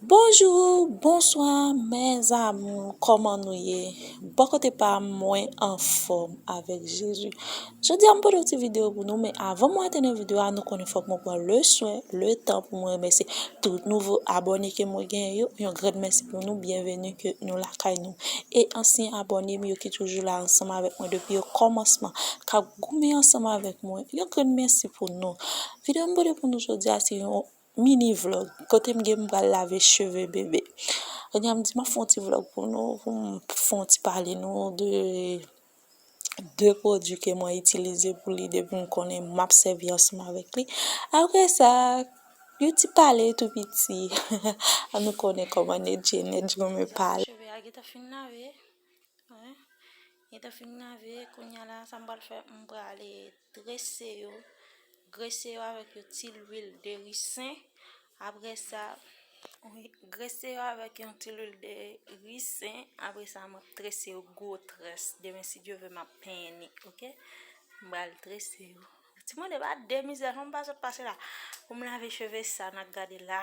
Bonjou bonswa mes amour kòman nou ye bò kote pam mwen anfòm avèk jezi jodia m pote yon ti video pou nou men avan mwen antre nan video a nou konnen fòk mwen pran le swen le tan pou mwen remèsye tout nouvo abòne ke mwen genyen yo yon grand mèsi pou nou byenveni ke nou lakay nou e ansyen abòne m yo ki toujou la ansanm avèk mwen depi o kòmansman kap goumen ansanm avèk mwen yon grand mèsi pou nou video m pote pou nou jodia se yon Mini vlog kote m gen m pral lave cheve bébé kounya m di map fè yon ti vlog pou nou pou m fè yon ti pale nou de de pwodui ke mwen itilize pou li depi m konnen map sèvi ansanm avèk li aprè sa yon ti pale tou piti nou konnen kòman Nedjine renmen pale. Li te fin lave kounya la sa m pral fè m pral trese yo grese yo avèk yon ti lwil de risen apre sa grese yo avèk yon ti lwil de risen apre sa m ap trese yo gwo très demen si Dye ve m ap penyen ni ok m pral trese yo ti moun de pa de mizè fò m pa sot pase la pou m lave cheve sa n ap gade la.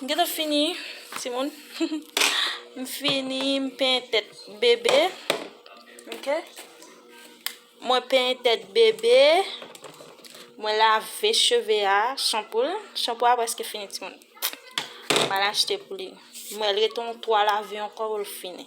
M gentan fini timoun M fini m penyen tèt bebe Ok Mwen penyen tèt bebe Mwen lave cheve a Chanpou l Chanpou a prèske fini timoun M al achte pou li Mwen l rete yon 3 lave ankò pou l fini.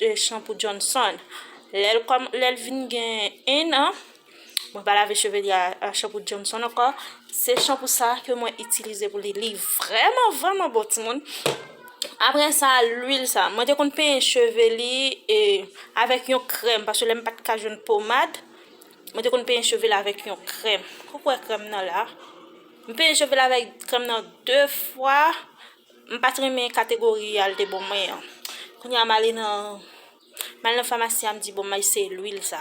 2 chanpou Johnson lè l kòman lè l vin gen 1 an mwen pa lave cheve li a chanpou Johnson ankò se chanpou sa ke mwen itilize pou li li vrèman vrèman bon timoun aprè sa lwil sa mwen te konn penyen cheve li e avèk yon krèm paske lè m pat ka jwenn pomad mwen te konn penyen cheve li avèk yon krèm ou k wè krèm nan la m penyen cheve li avèk krèm nan 2 fwa M pat renmen kategori al te bon mwen an kounya m ale nan m al nan famasi a m di bon m eseye lwil sa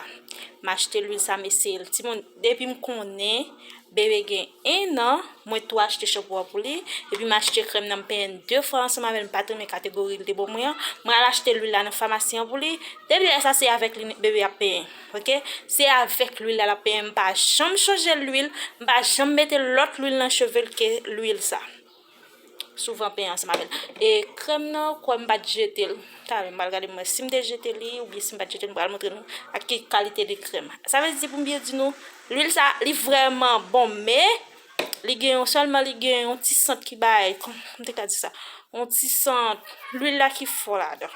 m achte lwil sa m eseye l timoun depi m konnen bebe gen 1 an mwen tou achte chanpou a pou li epi m achte krèm nan m penyen l 2 fwa ansanm avè l m pat renmen kategori l te bon mwen an m al achte lwil la nan famasi an pou li depi lè sa se avèk li bebe ap penyen ok se avèk lwil la l ap penyen m pa janm chanje lwil m pa janm mete lòt lwil nan cheve l ke lwil sa. Souvan pen ansanm avèl. E krèm nan kwèm m pat jetel talè m pral gade m wè sim te jete li oubyen sim pat jetel m pral montre nou ak ki kalite de krèm. Sa vle di pou m byen di nou lwil sa li vrèman bon men li gen yon sèlman li gen yon ti sant ki bay kòm m te ka di sa yon ti sant lwil la ki fò ladan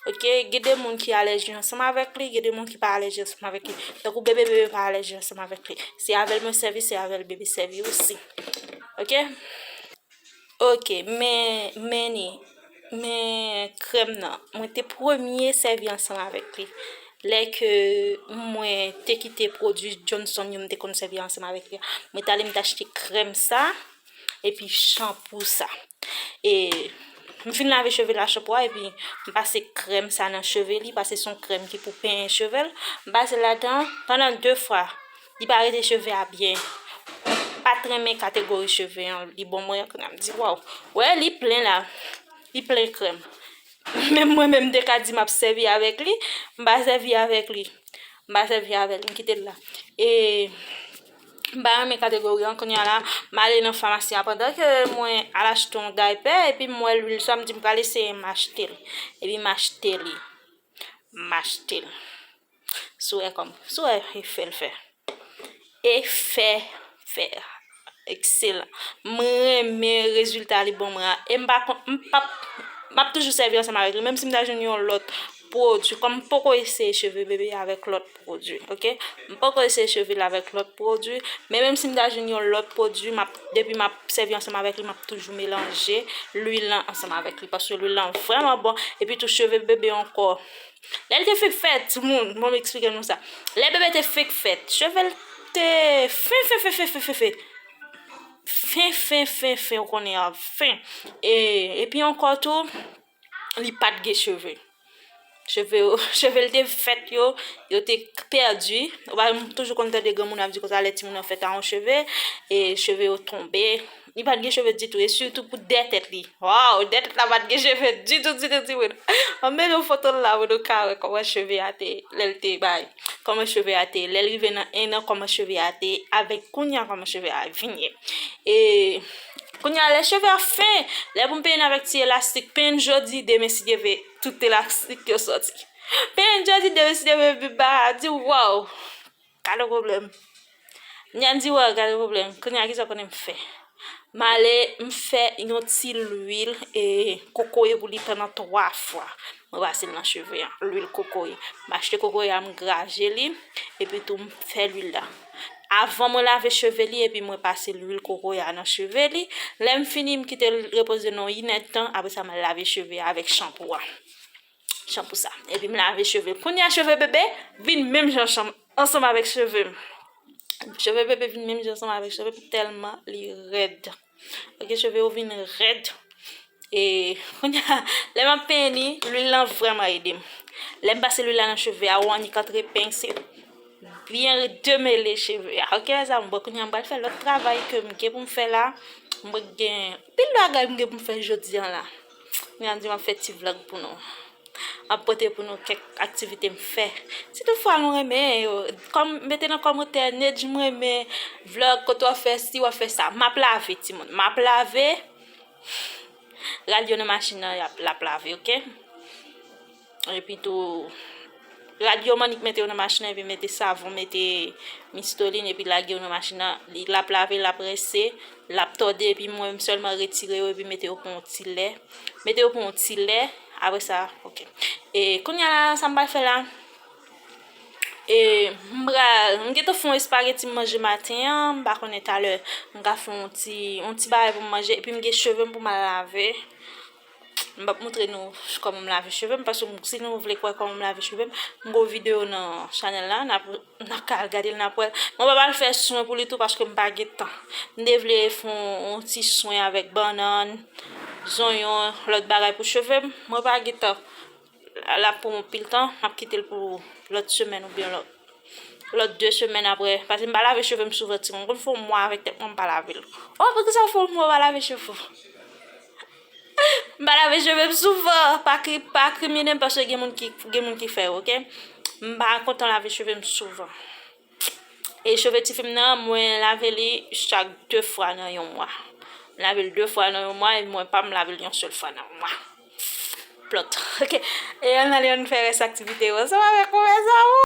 ok gen de moun ki alèji ansanm avèk li gen de moun ki pa alèji ansanm avèk li tankou bebe bebe pa alèji ansanm avèk li se avèl mwen sèvi se avèl bebe sèvi osi. Ok Ok men meni men krèm nan mwen te premye sèvi ansanm avèk li lè ke mwen te kite pwodui Johnson yo mwen te konn sèvi ansanm avèk li mwen t ale mwen t achte krèm sa epi chanpou sa e m fin lave cheve l a chanpou a epi m pase krèm sa nan cheve li paske se yon krèm ki pou penyen cheve l m pase l ladan pandan 2 fwa Li pa rete cheve a byen. Pat renmen kategori cheve an li bon mwen kounya m di waw. Wè li plen la li plen krèm. Menm mwen menm m te ka di map sèvi avèk li m pa sèvi avèk li. M pa sèvi avèl m kitel la. E m pa renmen kategori an kounya la m ale nan famasi an pandan ke mwen al achte yon daypè epi m wè lwil sa m di m pral eseye m achtel. Epi m achte li. M achtel. Sou wè kòm sou wè efè l fè efè fè ekselan m renmen rezilta li banm la e m pa konn m pap m ap toujou sèvi ansanm avèk li menm si m ta jwenn yon lòt pwodui kòm m poko eseye cheve bebe avèk lòt pwodui ok m poko eseye cheve l avèk lòt pwodui men menm si m ta jwenn yon lòt pwodui m ap depi m ap sèvi ansanm avèk li m ap toujou melanje luil lan ansanm avèk li paske luil lan vrèman bon epitou cheve bebe ankò Lè li te fenk fèt, timoun, bon m eksplike nou sa. Lè bebe te fenk fèt, cheve l te fen fen fen fen fen fen fen. Fen fen fen fen ou konnen an, fen. E, epi ankò tou, li pa t gen cheve. Cheve yo, cheve l te fèt yo, yo te pèdi. Ou pa m toujou konn tande granmoun ap di konsa lè timoun nan fèt a yon cheve, e cheve yo tonbe. Li pat gen cheve ditou e sitou pou 2 tèt li. Waww 2 tèt la pat gen cheve ditou ditou ti moun. An men nou fotol la pou nou ka wè kòman cheve a te lèl te bay. Kòman cheve a te ye lèl rive nan 1 an kòman cheve a te ye avèk kounya kòman cheve a vin ye. E kounya lè cheve a fen lè pou m penyen avèk ti elastik penyen jodi demen si Dye ve tout elastik yo sòti. Penyen jodi demen si Dye ve pi ba di waww. Gade pwoblèm. Nyan di wè gade pwoblèm. Kounye a ki sa w konnen m fè? M ale m fè yon ti lwil kokoye pou li fè nan 3 fwa. Mwen pase l nan cheve a, lwil kokoye. M achte kokoye a m graje li, epitou m fè lwil la. Avan mwen lave cheve li epi mwen pase lwil kokoye a nan cheve li. Lè m fini m kite l repoze nan 1 èdtan, apre sa m al lave cheve a avèk chanpou a. Chan pou sa. Epi m lave cheve m. Kounye a cheve bebe vin menm jan chan ansanm avèk cheve m. Cheve bebe vin menm jan ansanm avèk cheve m tèlman li rèd. Ok cheve yo vin rèd. E kounye a lè m ap penyen li, lwil lan vrèman ede m. Lè m pase lwil la nan cheve a ou annik antre peny se byen demele cheve a. Ok mèzanmi m bon kounye a m pral fè lòt travay ke m gen pou m fè la. M gen anpil bagay m gen pou m fè jodi an la. Mwen ap di map fè ti vlog pou nou. Map pote pou nou kèk aktivite m fè. Si tout fwa nou renmen yo, kòm mete nan kòmantè Nedj m renmen vlog kote wap fè si wap fè sa. Map lave timoun, map lave. Ralye nan machin nan lap lave ok. Epi tou rad yo mannik mete yo nan machin nan epi mete savon mete mistolin epi lage yo nan machin nan li lap lave lap rense lap tòde epi mwen m sèlman retire yo epi mete yo pou yon ti lè mete yo pou yon ti lè apre sa ok e kounya la sa m pral fè la e m pral m gentan fè yon espageti m manje maten an m pa konnen talè m ka fè yon ti yon ti bagay pou m manje epi m gen cheve m pou m al lave M pap moutre nou kòman m lave cheve m paske si nou vle kwè kòman m lave cheve m m gen yon videyo nan chanèl la n ap ka al gade l n ap wè l mwen pap al fè swen pou li tou paske m pa gen tan m te vle fè yon ti swen avèk bannann zonyon lòt bagay pou cheve m mwen pa gen tan L ap pran yon pil tan, m ap kite l pou lòt semèn oubyen lòt de semèn aprè. Pase m pa lave cheve m souvan timoun. Konn fè yon mwa avèk tèt mwen m pa lave l. O! Poukisa w fè yon mwa w pa lave cheve w? M pa lave cheve m souvan. Pa kriminen m paske gen moun ki fè yo, oke. M pa kontan lave cheve m souvan. E cheve ti fim nan mwen lave li chak 2 fwa nan yon mwa. M lave l 2 fwa nan yon mwa e mwen pa m lave l yon sèl fwa nan mwa. Plot. Ok. E ann ale ann fè rès aktivite yo ansanm avèk mwen mes amour.